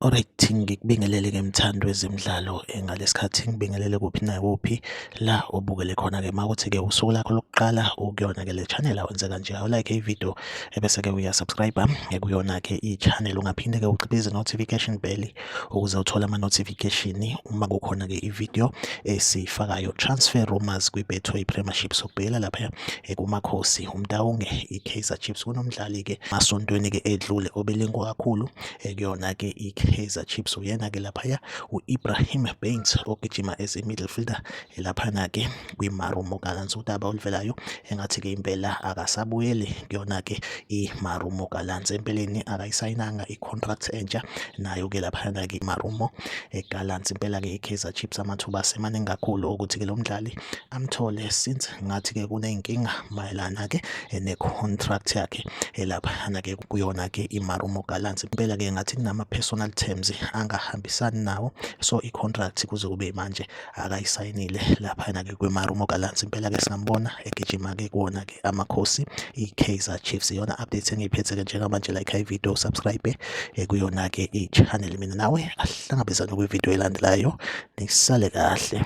Alright ngikubingelele ke mthandi wezemidlalo eh, ngalesikhathi ngibingelele kuphi nakuphi la obukele khona ke makuthi ke usuku lakho lokuqala ukuyona ke le channel awenze kanje awu like i video ebese ke uya subscribe eh, kuyona ke i channel ungaphinde ke uciphize notification bell ukuze uthole ama-notification uma kukhona-ke ividiyo esiyifakayo transfer rumors kwi-betway premiership sokubhekela lapha eh, kumakhosi umtawunge i-kaizer chiefs kunomdlali-ke masontweni-ke edlule obelingwa kakhulu eh, kuyona-ke i-kaizer chiefs uyena-ke laphaya u-ibrahim baines ogijima as i-middle fielder Laphana-ke kwimarumo kaLansudaba oluvelayo engathi-ke impela akasabuyeli kuyona-ke imarumo kaLansi empeleni akayisayinanga i-contract entsha nayo-ke laphana-ke imarumo kaLansi impela-ke i-Kaizer Chiefs amathuba asemaningi kakhulu okuthi-ke lo mdlali amthole since ngathi-ke kuney'nkinga mayelana-ke ne-contract yakhe laphana-ke kuyona-ke imarumo kaLansi impela-ke ngathi kunama-personal terms angahambisani nawo so i-contract kuze kube manje akayisayinile laphayana ke kwimarumo galansi impela ke singambona egijima ke kuwona ke amakhosi i-kaizer chiefs iyona update engiyiphethe ke njengamanje like high video subscribe eh, kuyona ke i-channel mina nawe ahlangabezane kwivideo elandelayo nisale kahle